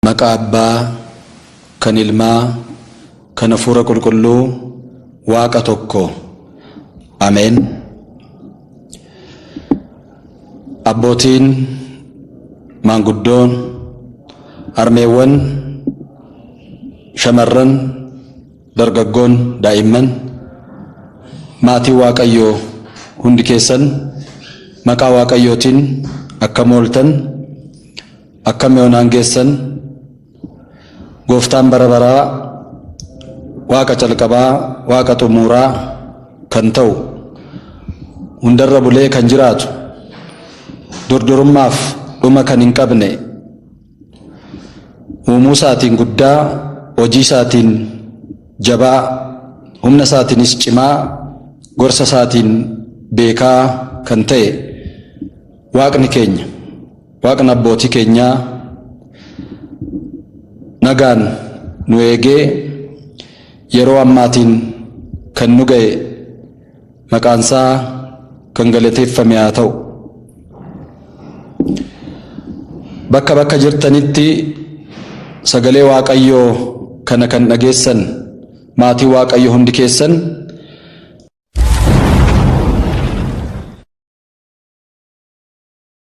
Maqaa Abbaa, kan Ilmaa, kan Hafuura Qulqulluu, Waaqa tokko. Ameen. Abbootiin, maanguddoon, harmeewwan, shamarran, dargaggoon, daa'imman, maatiin Waaqayyoo hundi keessan maqaa Waaqayyootiin akkam ooltan? Akkam yoonaan geessan gooftaan bara baraa waaqa calqabaa waaqa xumuuraa kan ta'u hundarra bulee kan jiraatu durdurummaaf dhuma kan hin qabne uumuu isaatiin guddaa hojii isaatiin jabaa humna isaatiinis cimaa gorsa isaatiin beekaa kan ta'e waaqni keenya Waaqni abbootii keenyaa nagaan nu eegee yeroo ammaatiin kan nu ga'e maqaansaa kan galateeffame haa ta'u. Bakka bakka jirtanitti sagalee Waaqayyoo kana kan dhageessan maatii Waaqayyo hundi keessan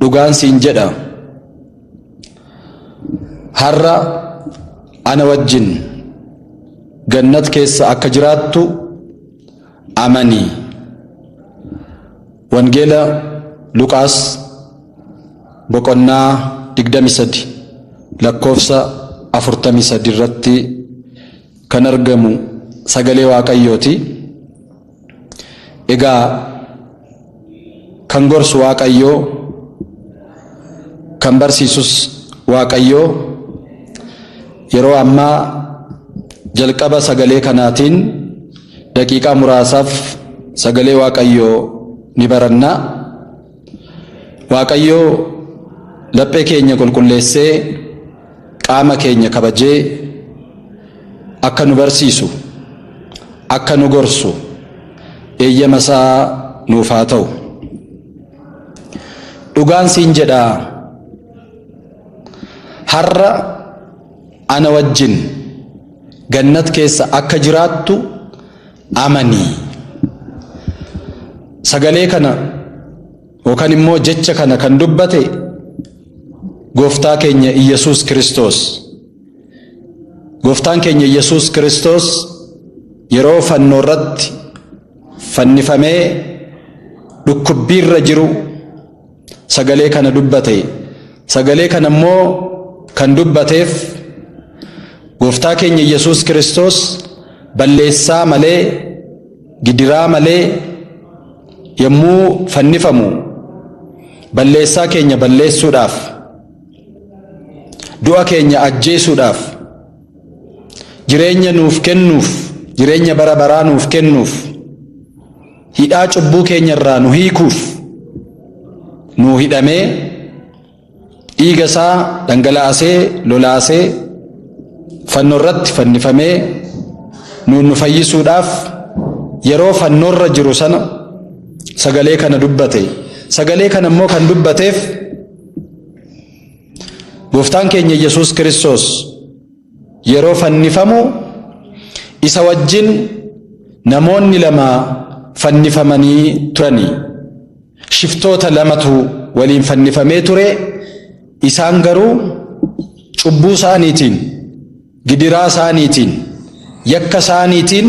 dhugaan siin jedha har'a ana wajjin gannat keessa akka jiraattu amani wangeela luqaas boqonnaa 23 lakkoofsa 43 irratti kan argamu sagalee waaqayyooti. Egaa kan gorsu Waaqayyoo, kan barsiisus Waaqayyoo yeroo ammaa jalqaba sagalee kanaatiin daqiiqaa muraasaaf sagalee Waaqayyoo ni baranna. Waaqayyo laphee keenya qulqulleessee qaama keenya kabajee akka nu barsiisu akka nu gorsu eeyyama isaa nuuf haa ta'u. Dhugaan siin jedha har'a ana wajjin gannat keessa akka jiraattu amani. Sagalee kana yookaan immoo jecha kana kan dubbate gooftaa keenya Iyyasuus Kiristoos. Gooftaan keenya Iyyasuus Kiristoos yeroo fannoo irratti fannifamee dhukkubbiirra jiru sagalee kana dubbate sagalee kana immoo kan dubbateef gooftaa keenya yesus kiristoos balleessaa malee gidiraa malee yommuu fannifamu balleessaa keenya balleessuudhaaf du'a keenya ajjeesuudhaaf jireenya nuuf kennuuf jireenya bara baraa nuuf kennuuf hidhaa cubbuu keenya irraa nu hiikuuf nuu hidhamee dhiiga isaa dhangalaasee lolaasee fannoo irratti fannifamee nuun nu fayyisuudhaaf yeroo fannoorra jiru sana sagalee kana dubbate sagalee kana immoo kan dubbateef gooftaan keenya yesus kiristoos Yeroo fannifamu isa wajjin namoonni lama fannifamanii turani. Shiftoota lamatu waliin fannifamee ture, isaan garuu cubbuu isaaniitiin, gidiraa isaaniitiin, yakka isaaniitiin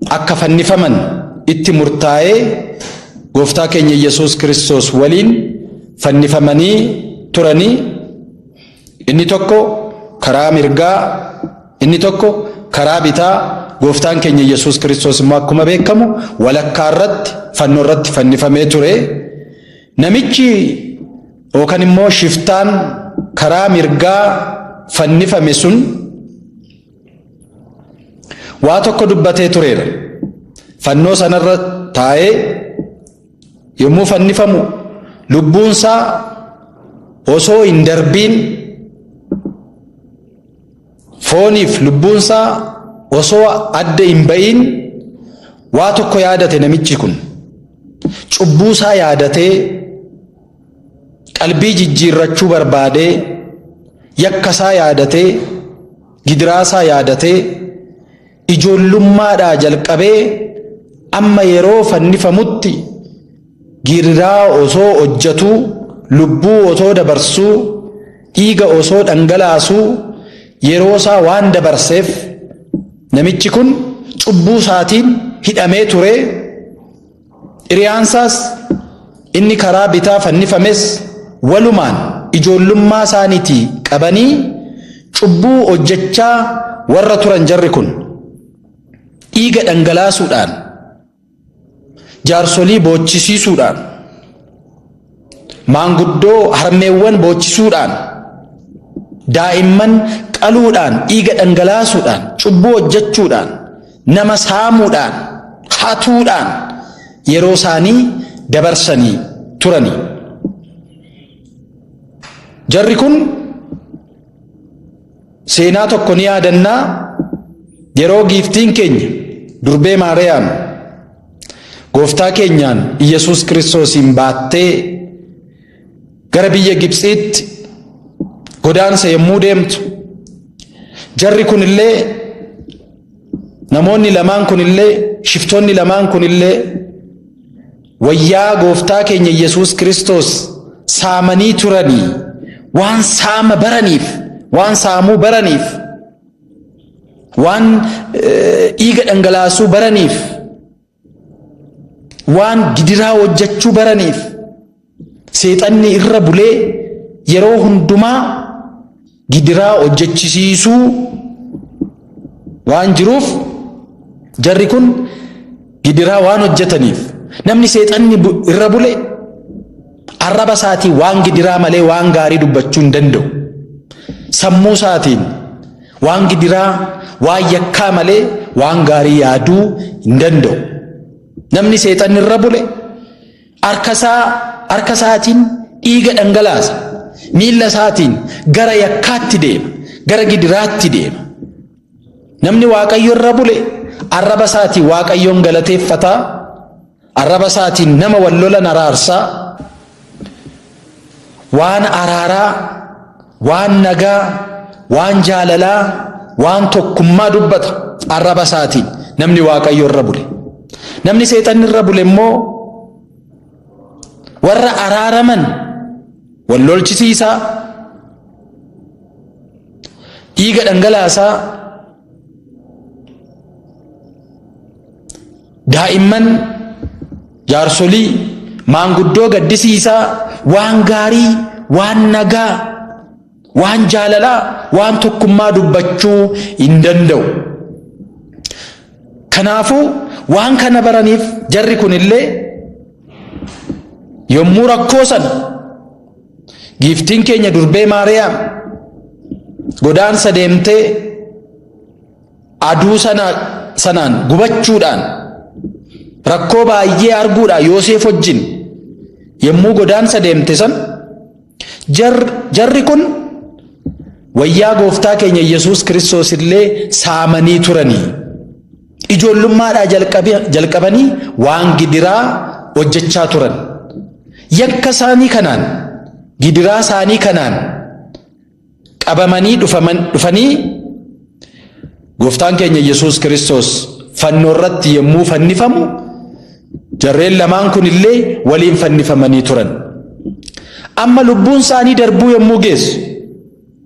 akka fannifaman itti murtaa'ee gooftaa keenya Yesuus Kiristoos waliin fannifamanii turani. Inni tokko karaa mirgaa, inni tokko karaa bitaa, Gooftaan keenya Yesuus Kiristoos immoo akkuma beekamu walakkaa irratti fannoo irratti fannifamee ture. Namichi yookaan immoo shiftaan karaa mirgaa fannifame sun waa tokko dubbatee tureera. Fannoo sanarra taa'ee Yommuu fannifamu lubbuunsaa osoo hin darbiin fooniif lubbuunsaa osoo adda hin ba'iin waa tokko yaadate namichi kun cubbuusaa yaadatee qalbii jijjiirrachuu barbaadee yakkasaa yaadatee gidiraasaa yaadatee. ijoollummaadhaa jalqabee amma yeroo fannifamutti giirraa osoo hojjatuu lubbuu osoo dabarsuu dhiiga osoo dhangalaasuu yeroo isaa waan dabarseef namichi kun cubbuu isaatiin hidhamee turee Hiriyaansaas inni karaa bitaa fannifames walumaan ijoollummaa isaaniitii qabanii cubbuu hojjechaa warra turan jarri kun dhiiga dhangalaasuudhaan jaarsolii boochisiisuudhaan Maanguddoo harmeewwan boochisuudhaan, daa'imman qaluudhaan, dhiiga dhangalaasuudhaan, cubbuu hojjechuudhaan, nama saamuudhaan, hatuudhaan yeroo isaanii dabarsanii turani. Jarri kun Seenaa tokko ni yaadannaa yeroo giiftiin keenya durbee Maariyaam gooftaa keenyaan Iyyasuus Kiristoosiin baattee gara biyya Gibtsiitti godaansa yommuu deemtu jarri kunillee namoonni lamaan kunillee shiftoonni lamaan kunillee Wayyaa Gooftaa keenya Yesuus Kiristoos saamanii turanii waan saama baraniif, waan saamuu baraniif, waan dhiiga dhangalaasuu baraniif, waan gidiraa hojjechuu baraniif seexanni irra bulee yeroo hundumaa gidiraa hojjechisiisuu waan jiruuf jarri kun gidiraa waan hojjetaniif namni seexanni irra bule arraba isaatiin waan gidiraa malee waan gaarii dubbachuu hin danda'u. Sammuu isaatiin waan gidiraa waan yakkaa malee waan gaarii yaaduu hin danda'u. Namni seexanni irra bule Harka isaa harka isaatiin dhiiga dhangalaasa. Miilla isaatiin gara yakkaatti deema. Gara gidiraatti deema. Namni Waaqayyo irra bule arraba isaatiin Waaqayyoon galateeffataa. Arraba isaatiin nama wal lolan araarsaa. waan araaraa, waan nagaa, waan jaalalaa, waan tokkummaa dubbata arraba isaatiin namni Waaqayyo irra bule. Namni seexanni irra bule immoo warra araaraman wal lolchisiisaa, dhiiga dhangalaasaa, daa'imman jaarsolii maanguddoo gaddisiisaa waan gaarii waan nagaa waan jaalalaa waan tokkummaa dubbachuu hin danda'u. Kanaafuu waan kana baraniif jarri kunillee yommuu rakkoo sana Giiftiin keenya durbee Maariyaam godaansa deemtee aduu sana sanaan gubachuudhaan rakkoo baay'ee arguudhaan Yooseef wajjin yommuu godaansa deemte san jarri kun wayyaa gooftaa keenya Yesuus Kiristoos illee saamanii turanii. Ijoollummaadhaa jalqabanii waan gidiraa hojjechaa turan. Yakka isaanii kanaan, gidiraa isaanii kanaan qabamanii dhufanii gooftaan keenya Yesuus Kiristoos fannoo irratti yommuu fannifamu jarreen lamaan kun illee waliin fannifamanii turan. Amma lubbuun isaanii darbuu yommuu geessu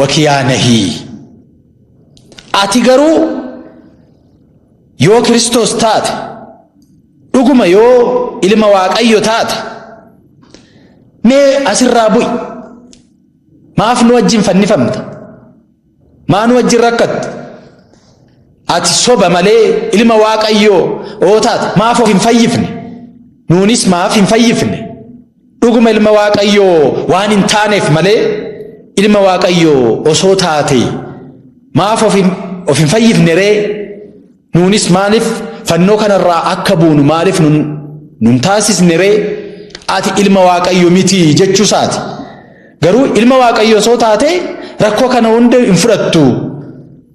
wakiyaa nahii ati garuu yoo kiristoos taate dhuguma yoo ilma waaqayyo taate mee asirraa bu'i maaf nu wajjin fannifamta maa nu wajjin rakkatta ati soba malee ilma waaqayyoo oo taate maaf of hin fayyifne nuunis maaf hin fayyifne Dhuguma ilma Waaqayyoo waan hin taaneef malee ilma Waaqayyoo osoo taate maaf of hin, of hin fayyifne ree? Nuunis maaliif fannoo kanarraa akka buunu maaliif nun, nun taasisne ree? Ati ilma Waaqayyo miti jechuusaati. Garuu ilma Waaqayyo osoo taate rakkoo kana hunda hin fudhattu.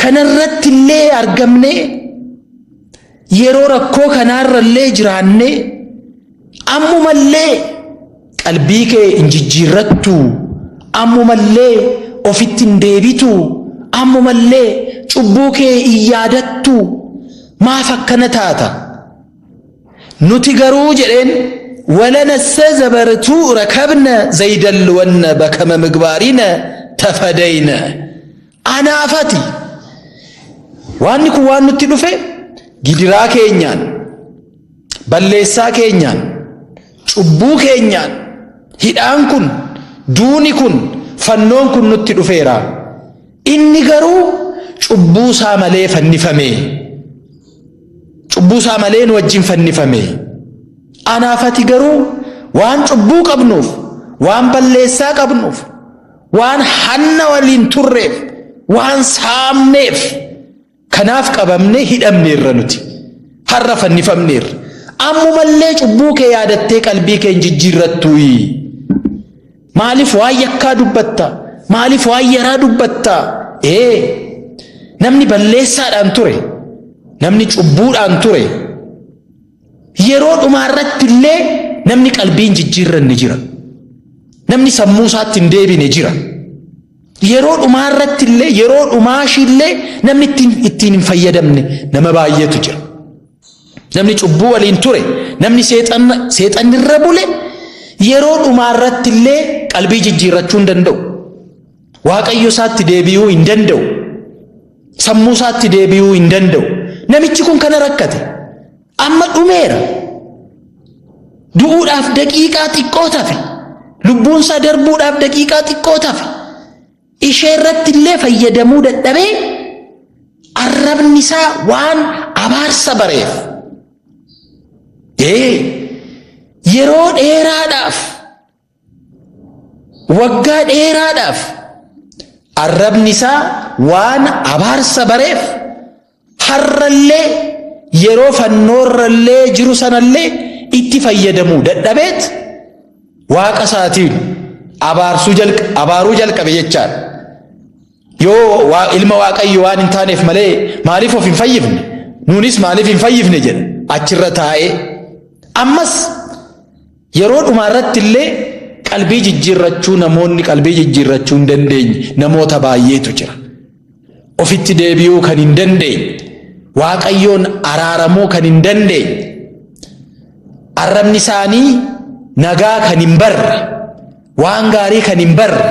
Kanarratti illee argamnee yeroo rakkoo kanaarra illee jiraannee ammumallee qalbii kee hin jijjiirrattu ammumallee ofitti hin deebitu ammumallee cubbuu kee hin yaadattu maaf akkana taata? Nuti garuu jedheen walanassa zabartuu rakabna zaydalwanna bakama migbaarina tafadayna anaafati waanni kun waan nutti dhufe gidiraa keenyaan balleessaa keenyaan cubbuu keenyaan hidhaan kun duuni kun fannoon kun nutti dhufeera inni garuu cubbuu isaa malee fannifame. Cubbuu isaa malee nu wajjin fannifame. Anaaf ati garuu waan cubbuu qabnuuf, waan balleessaa qabnuuf, waan hanna waliin turreef, waan saamneef kanaaf qabamne hidhamneerra nuti. Har'a fannifamneerra. Ammumallee cubbuu kee yaadattee qalbii kee hin jijjiirrattuuyi. Maaliif waan yakkaa dubbatta? Maaliif waan yaraa dubbatta? Ee, namni balleessaadhaan ture, namni cubbuudhaan ture, yeroo dhumaa irratti illee namni qalbiin jijjiirranne jira. Namni sammuu isaatti hin deebine jira. Yeroo dhumaa irratti illee, yeroo dhumaa ishii illee namni ittiin, ittiin hin fayyadamne nama baay'eetu jira. Namni cubbuu waliin ture, namni seexanni irra bule yeroo dhumaa irratti illee qalbii jijjiirrachuu hin danda'u. Waaqayyo isaatti deebi'uu hin danda'u. Sammuu isaatti deebi'uu hin danda'u. Namichi kun kana rakkate. Amma dhumeera. Du'uudhaaf daqiiqaa xiqqoo tafe. Lubbuunsaa darbuudhaaf daqiiqaa xiqqoo tafe. ishee irratti illee fayyadamuu dadhabee arrabni isaa waan abaarsa bareef ee yeroo dheeraadhaaf waggaa dheeraadhaaf arrabni isaa waan abaarsa bareef Har'allee yeroo fannoorrallee jiru sanallee itti fayyadamuu dadhabeet waaqa isaatiin abaarsuu jalqa abaaruu jalqabe jechaan yoo waa, ilma waaqayyo waan hin taaneef malee maaliif of hin fayyifne nuunis maaliif hin fayyifne jedha achirra taa'ee ammas Yeroo dhumaa irratti illee qalbii jijjiirrachuu namoonni qalbii jijjiirrachuu hin dandeenye namoota baay'eetu jira. Ofitti deebi'uu kan hin dandeenye, Waaqayyoon araaramuu kan hin dandeenye, arrabni isaanii nagaa kan hin barre, waan gaarii kan hin barre,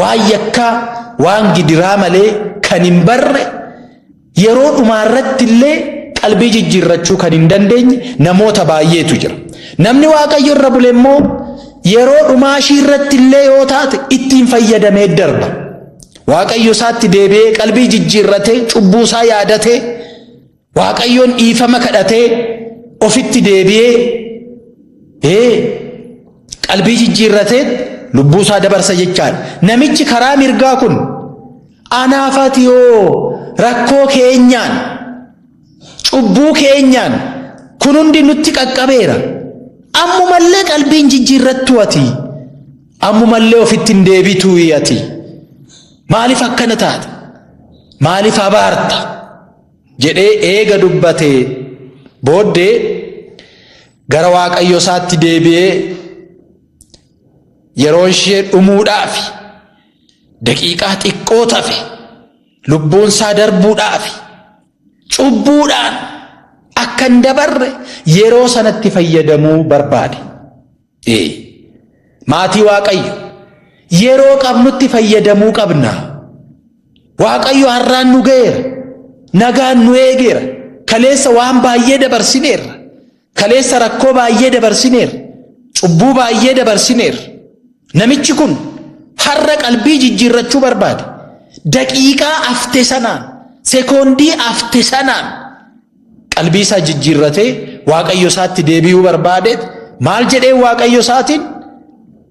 waan yakkaa, waan gidiraa malee kan hin barre Yeroo dhumaarratti illee qalbii jijjiirrachuu kan hin dandeenye namoota baay'eetu jira. Namni Waaqayyo irra bule immoo yeroo dhumaa ishii irratti illee yoo taate ittiin fayyadamee darba. Waaqayyo isaatti deebi'ee qalbii jijjiirratee cubbuu isaa yaadatee Waaqayyoon dhiifama kadhatee ofitti deebi'ee ee qalbii jijjiirratee lubbuu isaa dabarsa jechaadha. Namichi karaa mirgaa kun Anaaf ati hoo rakkoo keenyaan, cubbuu keenyaan kun hundi nutti qaqqabeera. Ammumallee qalbiin jijjiirrattuu ati. Ammumallee ofitti hin deebituu ati. Maaliif akkana taata? Maaliif abaarta? jedhee eega dubbatee booddee gara waaqayyo isaatti deebi'ee yeroon ishee dhumuudhaafi. daqiiqaa xiqqoo tafe lubbuun isaa darbuudhaaf cubbuudhaan akka hin dabarre yeroo sanatti fayyadamuu barbaade. Ee, Maatii Waaqayyo yeroo qabnutti fayyadamuu qabna. Waaqayyo har'aan nu ga'eera, nagaan nu eegeera, kaleessa waan baay'ee dabarsineerra. Kaleessa rakkoo baay'ee dabarsineer, cubbuu baay'ee dabarsineer. Namichi kun har'a qalbii jijjiirrachuu barbaade. Daqiiqaa afte sanaan, sekoondii afte sanaan qalbii isaa jijjiirratee waaqayyo isaatti deebi'uu barbaadeet maal jedhee waaqayyo isaatiin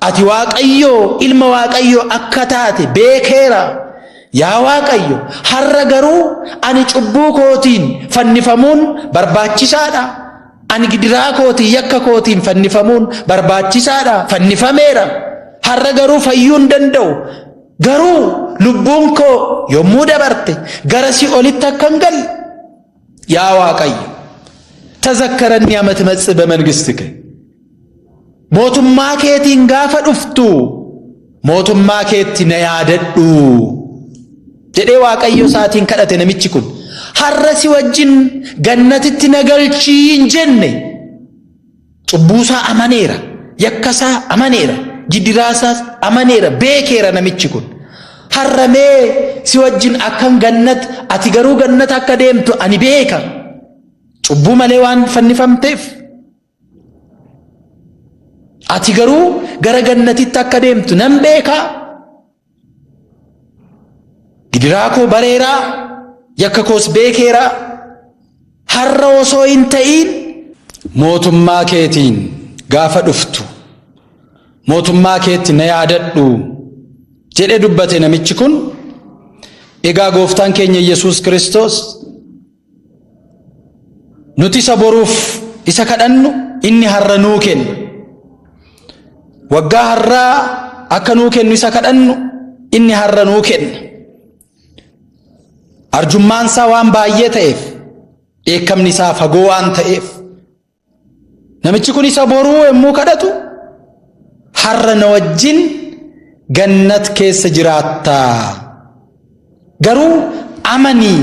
Ati Waaqayyoo ilma Waaqayyoo akka taate beekeera. Yaa Waaqayyo, har'a garuu ani cubbuu kootiin fannifamuun barbaachisaadha. Ani gidiraa kootiin yakka kootiin fannifamuun barbaachisaadha. Fannifameera. Har'a garuu fayyuu hin danda'u. Garuu lubbuun koo yommuu dabarte gara si'olitti akka hin galle yaa waaqayyo tazakkaran yaa matmatsi bamangistike mootummaa keetiin gaafa dhuftu mootummaa keetti na yaadadhu jedhee waaqayyo isaatiin kadhate namichi kun har'a si wajjin gannatitti na galchii hin jenne. Cubbuusaa amaneera, yakkasaa amaneera, jidiraasaas amaneera, beekeera namichi kun. Har'a mee si wajjin akkan gannat, ati garuu gannat akka deemtu ani beeka. Cubbuu malee waan fannifamteef. Ati garuu gara gannatitti akka deemtu nan beeka. Gidiraa koo bareeraa, yakka koos beekeeraa, har'a osoo hin ta'iin mootummaa keetiin gaafa dhuftu mootummaa keetti na yaadadhu jedhe dubbate namichi kun. Egaa gooftaan keenya Yesuus Kiristoos Nuti isa boruuf isa kadhannu inni har'a nuu kenna. Waggaa har'aa akka nuu kennu isa kadhannu inni har'a nuu kenna. Arjummaan isaa waan baay'ee ta'eef dheekkamni isaa fagoo waan ta'eef Namichi kun isa boruu yommuu kadhatu har'a na wajjin gannat keessa jiraatta. Garuu amani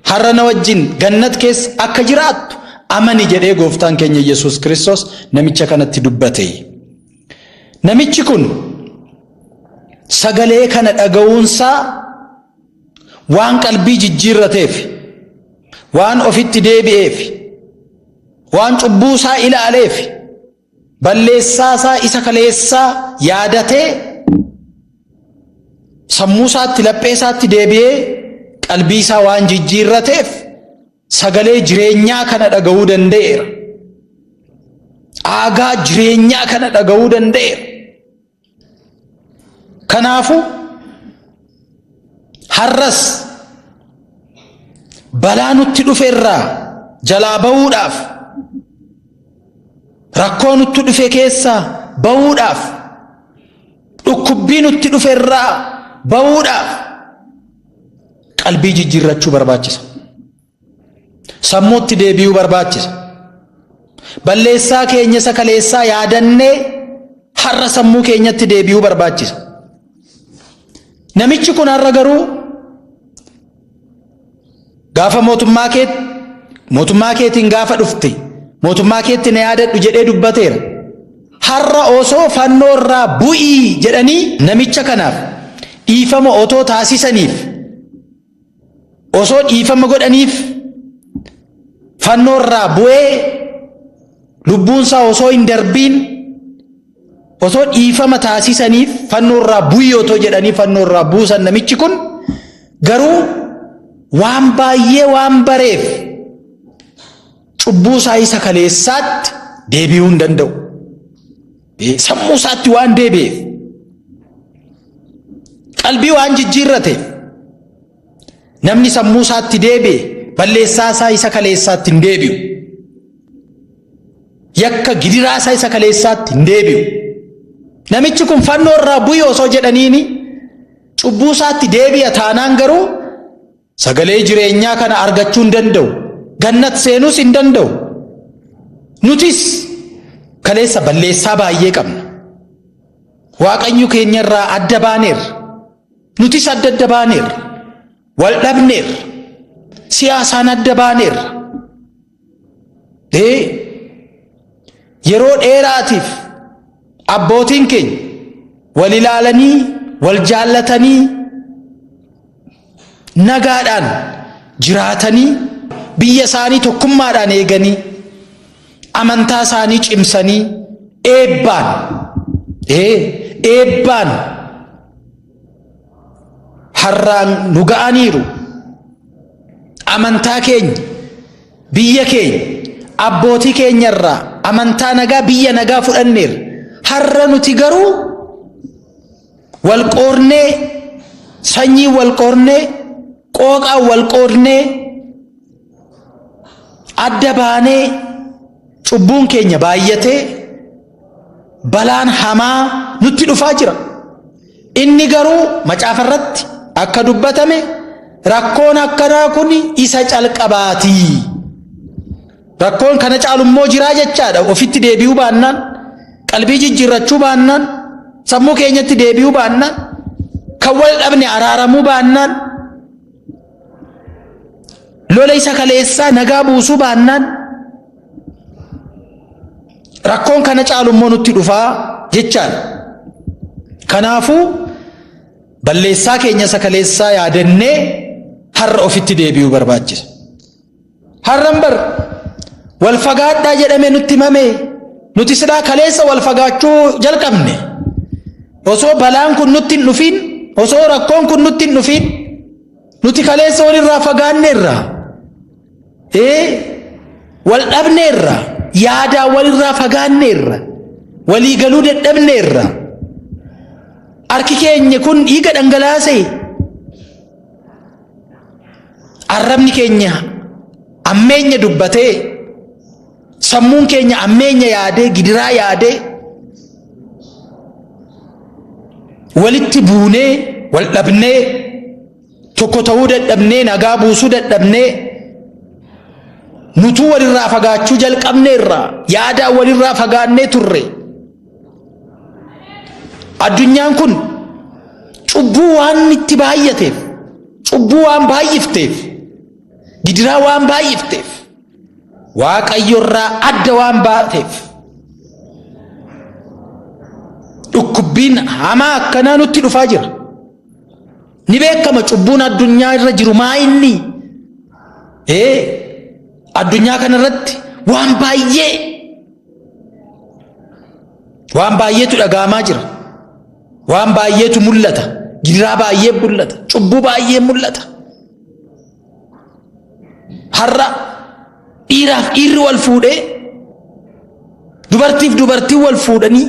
har'a na wajjin gannat keessa akka jiraattu amani jedhee gooftaan keenya Yesuus Kiristoos namicha kanatti dubbate. Namichi kun sagalee kana dhaga'uunsaa Waan qalbii jijjiirrateef, waan ofitti deebi'eef, waan cubbuu isaa ilaaleef, balleessaa isaa isa kaleessaa yaadatee sammuu isaatti laphee isaatti deebi'ee qalbii isaa waan jijjiirrateef sagalee jireenyaa kana dhaga'uu danda'eera. Aagaa jireenyaa kana dhaga'uu danda'eera. Kanaafu har'as balaa nutti dhufe irraa jalaa ba'uudhaaf rakkoo nutti dhufe keessaa ba'uudhaaf dhukkubbii nutti dhufe irraa ba'uudhaaf qalbii jijjiirrachuu barbaachisa. Sammuutti deebi'uu barbaachisa. Balleessaa keenya isa kaleessaa yaadannee har'a sammuu keenyatti deebi'uu barbaachisa. Namichi kun har'a garuu gaafa mootummaa kee mootummaa keetiin gaafa dhufte mootummaa keetti na yaadadhu jedhee dubbateera. Har'a osoo fannoo irraa bu'ii jedhanii namicha kanaaf dhiifama otoo taasisaniif Osoo dhiifama godhaniif fannoorraa bu'ee lubbuunsaa osoo hin darbiin osoo dhiifama taasisaniif fannoorraa bu'ii otoo jedhanii fannoorraa buusan namichi kun garuu waan baay'ee waan bareef cubbuu isaa isa kaleessaatti deebi'uu hin danda'u. Sammuu isaatti waan deebi'eef qalbii waan jijjiirrateef namni sammuu isaatti deebi'e balleessaa isaa isa kaleessaatti hin deebi'u. Yakka gidiraa isaa isa kaleessaatti hin deebi'u. Namichi kun fannoo irraa bu'ii osoo jedhaniini cubbuu isaatti deebi'a taanaan garuu Sagalee jireenyaa kana argachuu hin danda'u. Gannat seenuus hin danda'u. Nutis kaleessa balleessaa baay'ee qabna. Waaqayyo keenya irraa adda baaneerra. Nutis adda adda baaneerra. Wal dhabneerra. Siyaasaan adda baaneerra. Ee, yeroo dheeraatiif abbootiin keenya wal ilaalanii, wal jaallatanii, nagaadhaan jiraatanii, biyya isaanii tokkummaadhaan eeganii, amantaa isaanii cimsanii, eebbaan, ee, eebbaan harraan nu ga'aniiru amantaa keenya biyya keenya abbootii keenya irraa amantaa nagaa biyya nagaa fudhanneerra har'a nuti garuu wal qoornee sanyii wal qoornee qooqaa wal qoodnee adda baanee cubbuun keenya baay'atee balaan hamaa nutti dhufaa jira. Inni garuu macaafa irratti akka dubbatame rakkoon akkanaa kun isa calqabaati. Rakkoon kana caalu immoo jiraa jechaadha. Ofitti deebi'uu baannaan, qalbii jijjiirrachuu baannaan, sammuu keenyatti deebi'uu baannaan, kan wal dhabne araaramuu baannaan, lola isa kaleessaa nagaa buusuu baannaan Rakkoon kana caalu immoo nutti dhufaa jechaan. Kanaafuu balleessaa keenya sakaleessaa yaadannee har'a ofitti deebi'uu barbaachisa. Har'an bar wal fagaadhaa jedhame nutti himame nuti silaa kaleessa wal fagaachuu jalqabne osoo balaan kun nutti hin dhufiin osoo rakkoon kun nutti hin dhufiin nuti kaleessa walirraa fagaanneerra. wal dhabneerra yaadaa walirraa fagaanneerra walii galuu dadhabneerra harki keenya kun dhiiga dhangalaase arrabni keenya ammeenya dubbatee sammuun keenya ammeenya yaadee gidiraa yaadee walitti buunee wal dhabnee Tokko ta'uu dadhabnee nagaa buusuu dadhabnee nutuu walirraa fagaachuu jalqabne irraa yaadaa walirraa fagaannee turre. Addunyaan kun cubbuu waan itti baay'ateef cubbuu waan baay'ifteef gidiraa waan baay'ifteef waaqayyorraa adda waan baateef dhukkubbiin hamaa akkanaa nutti dhufaa jira. Ni beekama cubbuun addunyaa irra jiru maa inni? Ee addunyaa kana irratti waan baay'ee waan baay'eetu dhaga'amaa jira. Waan baay'eetu mul'ata. Gidiraa baay'ee mul'ata. Cubbuu baay'ee mul'ata. Har'a dhiiraaf dhiirri wal fuudhee dubartiif dubartiin wal fuudhanii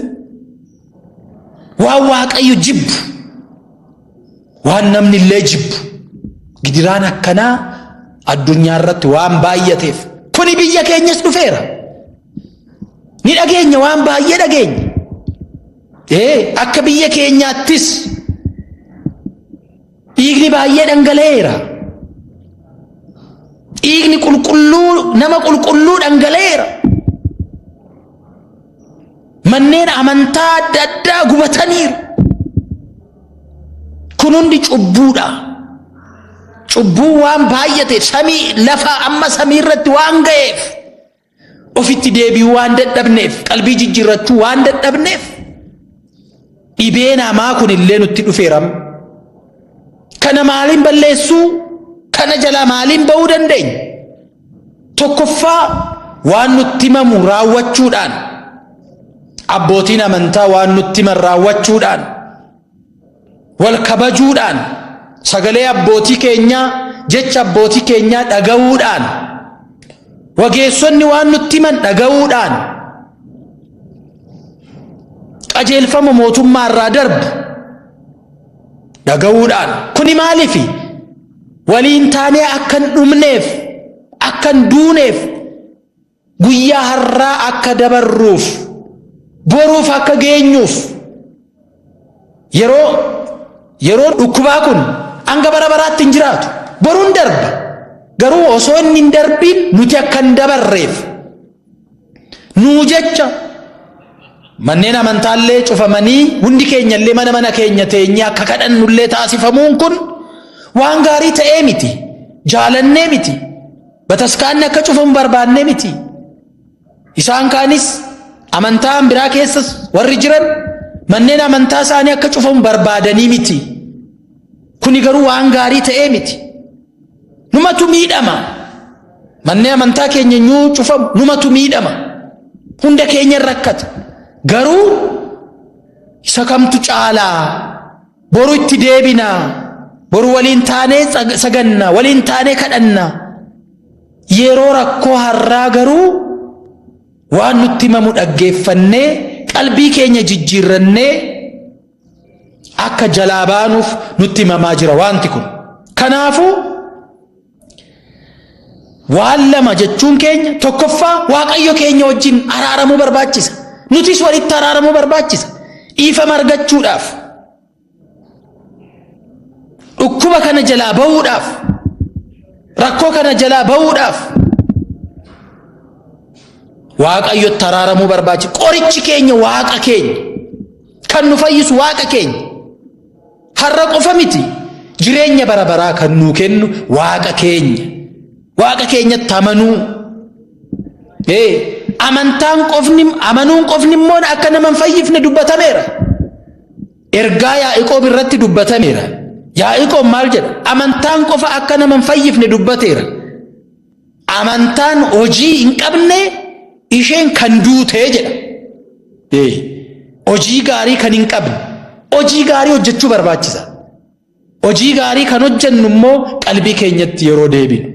waan waaqayyo jibbu waan namni illee jibbu gidiraan akkanaa addunyaa irratti waan baay'ateef kuni biyya keenyas dhufeera ni dhageenya waan baay'ee dhageenya ee akka biyya keenyaattis Dhiigni baay'ee dhangala'eera. Dhiigni qulqulluu nama qulqulluu dhangala'eera. Manneen amantaa adda addaa gubataniiru. Kun hundi cubbuudha. Cubbuun waan baay'ateef samii lafa amma samii irratti waan ga'eef. Ofitti deebi'uu waan dadhabneef, qalbii jijjiirrachuu waan dadhabneef dhibeen hamaa kun illee nutti dhufeeram. Kana maaliin balleessuu? Kana jalaa maaliin ba'uu dandeenya? Tokkoffaa waan nutti himamu raawwachuudhaan abbootiin amantaa waan nutti himan raawwachuudhaan wal kabajuudhaan sagalee abbootii keenyaa jecha abbootii keenyaa dhaga'uudhaan wageessonni waan nutti himan dhaga'uudhaan qajeelfama mootummaa irraa darbu dhaga'uudhaan kuni maaliifi waliin taanee akkan dhumneef akkan duuneef Guyyaa har'aa akka dabarruuf, boruuf akka geenyuuf, yeroo yeroon dhukkubaa kun hanga bara baraatti hin jiraatu. Boruun darba. Garuu osoo inni hin darbiin nuti akka hin dabarreef nuu jecha manneen amantaallee cufamanii hundi keenyallee mana mana keenya teenyee akka kadhannullee taasifamuun kun waan gaarii ta'ee miti. Jaalannee miti. Bataskaanni akka cufamu barbaannee miti. Isaan kaanis amantaan biraa keessas warri jiran manneen amantaa isaanii akka cufamu barbaadanii miti. Kuni garuu waan gaarii ta'ee miti. Numatu miidhama. Manneen amantaa keenya nyuu cufamu numatu miidhama. Hunda keenya rakkata. Garuu isa kamtu caalaa? Boru itti deebina. Boru waliin taanee saganna, waliin taanee kadhanna. Yeroo rakkoo har'aa garuu waan nutti himamu dhaggeeffannee qalbii keenya jijjiirrannee akka jalaa baanuuf nutti himamaa jira wanti kun. Kanaafuu Waan lama jechuun keenya tokkoffaa Waaqayyo keenya wajjin araaramuu barbaachisa. Nutis walitti araaramuu barbaachisa. Dhiifama argachuudhaaf. Dhukkuba kana jalaa ba'uudhaaf. Rakkoo kana jalaa ba'uudhaaf. Waaqayyotti araaramuu barbaachisa. Qorichi keenya waaqa keenya. Kan nu fayyisu waaqa keenya. Har'a qofa miti jireenya bara baraa kan nuu kennu waaqa keenya. Waaqa keenyatti amanuu. Ee amantaan qofni amanuun qofni immoo akka nama hin fayyifne dubbatameera. Ergaa Yaa'iqoob irratti dubbatameera. Yaa'iqoob maal jedha? Amantaan qofa akka nama hin fayyifne dubbateera. Amantaan hojii hin qabne isheen kan duutee jedha. Ee, Hojii gaarii kan hin qabne. Hojii gaarii hojjechuu barbaachisa. Hojii gaarii kan hojjennu immoo qalbii keenyatti yeroo deebinu.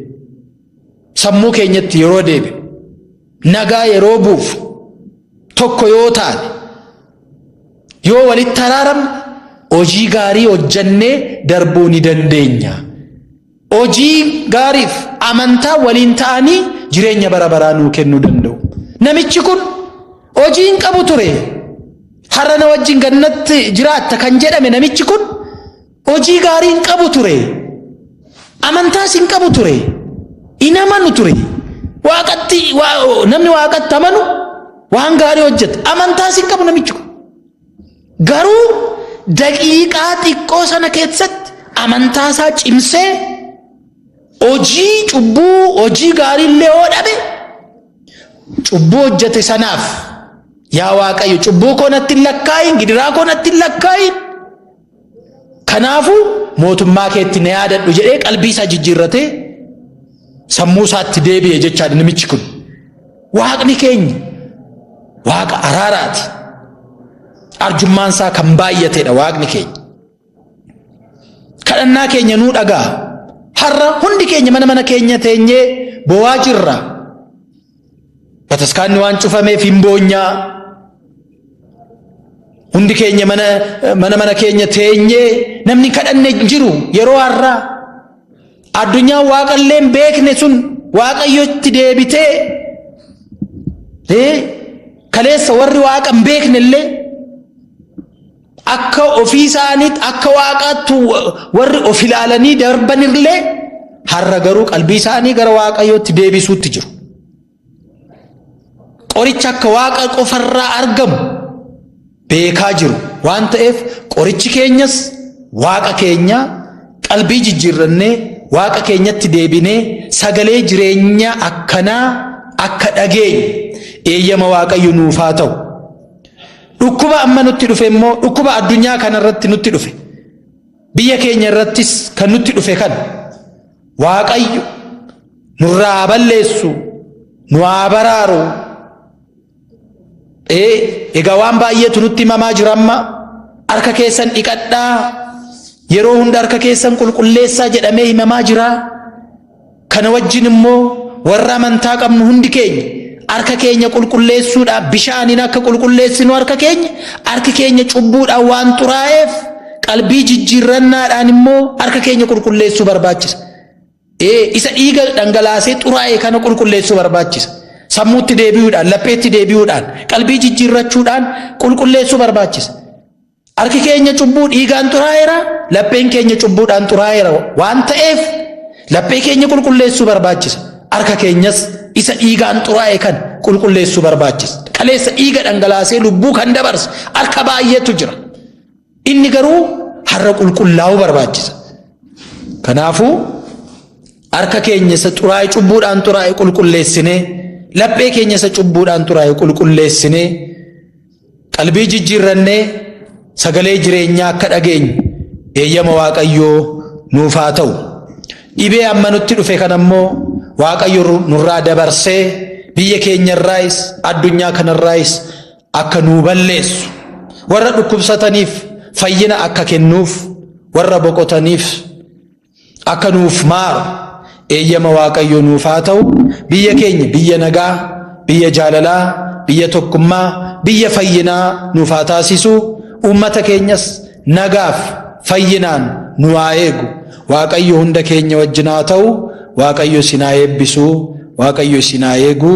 Sammuu keenyatti yeroo deebinu. Nagaa yeroo buufu. Tokko yoo taane. Yoo walitti araaramne hojii gaarii hojjennee darbuu ni dandeenya. Hojii gaariif amantaa waliin ta'anii jireenya bara baraa nuu kennuu danda'u. Namichi kun hojii hin qabu ture. Har'a na wajjin gannatti jiraatta kan jedhame namichi kun hojii gaarii hin qabu ture. Amantaas hin qabu ture. Hin amanu ture. Waaqatti namni waaqatti amanu waan gaarii hojjeta. Amantaas hin qabu namichi kun. Garuu daqiiqaa xiqqoo sana keessatti amantaa isaa cimsee hojii cubbuu hojii gaarii illee yoo dhabe cubbuu hojjete sanaaf yaa Waaqayyo cubbuu koo natti hin lakkaa'iin gidiraa koo natti hin lakkaa'iin Kanaafuu mootummaa keetti na yaadadhu jedhee qalbii isaa jijjiirratee sammuu isaatti deebi'e jechaadha namichi kun. Waaqni keenya waaqa araaraati. Arjummaan isaa kan baay'atedha waaqni keenya. Kadhannaa keenya nuu dhagaa. Har'a hundi keenya mana mana keenya teenyee boo'aa jirra. Bataskaanni waan cufameef hin boonyaa. Hundi keenya mana mana mana keenya teenyee namni kadhanne hin jiru yeroo har'aa. Addunyaa waaqallee hin beekne sun waaqayyotti deebitee ee kaleessa warri waaqa hin beekne illee Akka ofii isaaniitti akka waaqaatti warri of ilaalanii darban illee har'a garuu qalbii isaanii gara waaqayyootti deebisuutti jiru. Qoricha akka waaqa qofarraa argamu beekaa jiru waan ta'eef qorichi keenyas waaqa keenya qalbii jijjiirrannee waaqa keenyatti deebinee sagalee jireenyaa akkanaa akka dhageenyu eeyyama waaqayyo nuuf haa ta'u. Dhukkuba amma nutti dhufe immoo dhukkuba addunyaa kanarratti nutti dhufe. Biyya keenya irrattis kan nutti dhufe kan Waaqayyo nurraa haa balleessu, nu haa baraaru. Ee, egaa waan baay'eetu nutti himamaa jira amma harka keessan dhiqadhaa yeroo hunda harka keessan qulqulleessaa jedhamee himamaa jira. Kana wajjin immoo warra amantaa qabnu hundi keenya harka keenya qulqulleessuudhaaf bishaaniin akka qulqulleessinu harka keenya harki keenya cubbuudhaan waan xuraa'eef qalbii jijjiirrannaadhaan immoo harka keenya qulqulleessuu barbaachisa. Ee isa dhiiga dhangalaasee xuraa'e kana qulqulleessuu barbaachisa. Sammuutti deebi'uudhaan, lapheetti deebi'uudhaan, qalbii jijjiirrachuudhaan qulqulleessuu barbaachisa. Harki keenya cubbuu dhiigaan xuraa'eera, lapheen keenya cubbuudhaan xuraa'eera waan ta'eef laphee keenya qulqulleessuu barbaachisa. Harka keenyas isa dhiigaan xuraa'e kan qulqulleessuu barbaachisa. Kaleessa dhiiga dhangalaasee lubbuu kan dabarse harka baay'eetu jira. Inni garuu har'a qulqullaa'uu barbaachisa. Kanaafuu harka keenya isa xuraa'e cubbuudhaan xuraa'e qulqulleessinee laphee keenya isa cubbuudhaan xuraa'e qulqulleessinee Qalbii jijjiirrannee sagalee jireenyaa akka dhageenyu eeyyama Waaqayyoo nuuf haa ta'u. Dhibee amma nutti dhufe kana immoo Waaqayyo nurraa dabarsee biyya keenyarraayis addunyaa kanarraayis akka nuu balleessu warra dhukkubsataniif fayyina akka kennuuf warra boqotaniif akka nuuf maaru eeyyama Waaqayyoo nuuf haa ta'u biyya keenya biyya nagaa biyya jaalalaa biyya tokkummaa biyya fayyinaa nuuf haa taasisu uummata keenyas nagaaf fayyinaan nu haa eegu Waaqayyo hunda keenya wajjin haa ta'u Waaqayyo isin haa eebbisu Waaqayyo isin haa eegu.